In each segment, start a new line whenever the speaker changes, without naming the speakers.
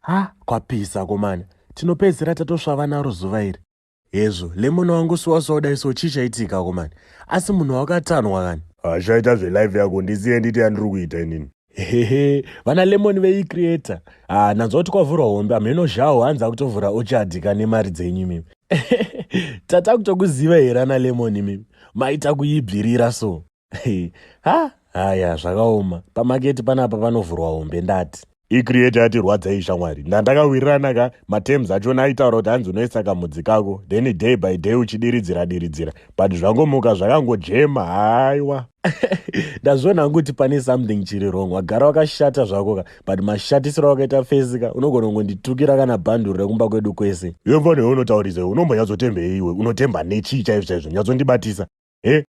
Ha, kwapisa komana. Tinopedzera tatosvava naro zuva iri. Hezvo, lemon wangu siwasiwa kudai so chii chaitika komana. Asi munhu wakatanwa kani. Hashaita zvelive
yako ndisiye nditi yandiri kuita inini. Hehe,
vana lemon vei creator. Ah, nanzwa kuti kwavhurwa hombe amheno zhawo hanzi akutovhura ochadi kane mari dzenyu imimi. Tata kutokuziva here ana lemon imimi. Maita kuibvirira so. ha haya zvakaoma pamaketi panapa panovhurwa hombe ndati icreate yatirwadza
iyi shamwari ndandakawirirana ka matems achona aitaura kuti hanzi unoisa kamudzi kako then day by day uchidiridzira diridzira but zvangomuka zvakangojema haiwa ndazviona
hangu kuti pane something chiri wrong wagara wakashata zvako ka but mashatisiro awakaita fesi ka unogona kungonditukira kana bhanduru rekumba kwedu kwese yemvano yaunotaurisa
unombonyatsotembe iwe unotemba nechii chaizvo chaizvo nyatsondibatisa he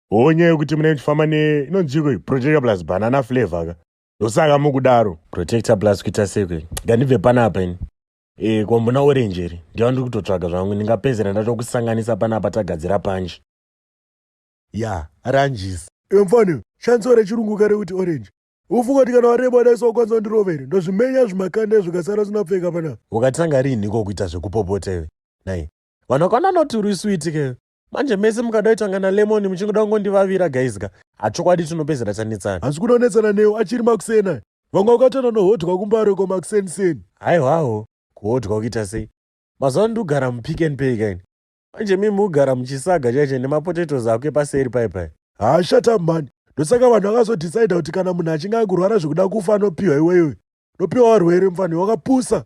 Hoo nyaya yokuti munenge muchifamba ne inonziko iyi protector plus banana flavor ka ndosaka mukudaro. Protector plus kuita
sei kwei ngandibve panapa ini. Eh ko mbona orange iri ndiyo ndiri kutotsvaga zvangu ndingapedzera ndatokusanganisa panapa tagadzira punch.
Ya ranjisi. Iwe mfana shandisa rechirungu kare kuti orange. Ufunga kuti kana wareba wadaisa wakwanisa kundirova here? Ndozvimenya zvimakanda izvo ukasara usina pfeka panapa. Wakatanga rinhiko
kuita zvekupopota iwe? Nhai. Vanhu vakaona anoti uri sweet ke. manje mese mukada itanga nalemon muchingoda kungondivavira guys ka hachokwadi tinopedzera tanetsana hanzi kuda kunetsana newo
achiri makusena vanga ukatana nohodhwa kumbaro ko makuseniseni haiwawo
kuhodhwa kuita sei mazuva ano ndikugara mupick and pay kaini manje mimi ugara muchisaga chaiche nemapotatoes ako epaseri paipai haa shata mhani
ndosaka vanhu vakazodhisaida kuti kana munhu achinge akurwara zvekuda kufa anopiwa iweyoyo nopiwa warwere mfanhi wakapusa